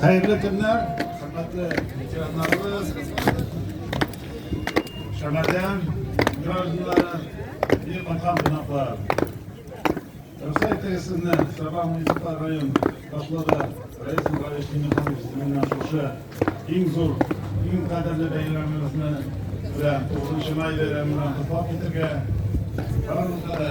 Хәерле көннәр, хөрмәтле ветераннарыбыз, Шәмәрдән гражданнары, бик кайткан кунаклар. Рөхсәт итегез сезне Саба муниципаль район башлыгы Раис Михайлович Михайлович исеменнән шушы иң зур, иң кадерле бәйрәмебезне белән 9 май бәйрәменә котлап китергә. Барлыгы да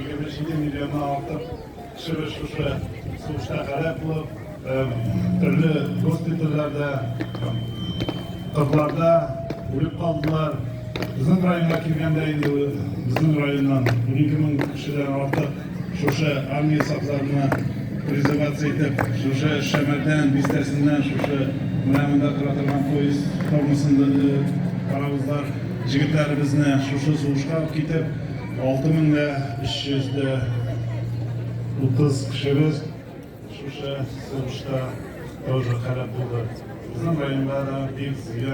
27 миллионнан артык кешебез шушы сугышта һәлак булып, төрле госпитальләрдә, кызларда үлеп калдылар. Безнең районга килгәндә инде безнең районнан 12 мең кешедән артык шушы армия сафларына призываться итеп, шушы Шәмәрдән бистәсеннән шушы менә монда тора торган поезд формасында паровозлар җегетләребезне шушы сугышка алып китеп, Алты мең дә өч йөз дә утыз кешебез шушы сугышта тоже һәлак булды. Безнең районда да бик зыян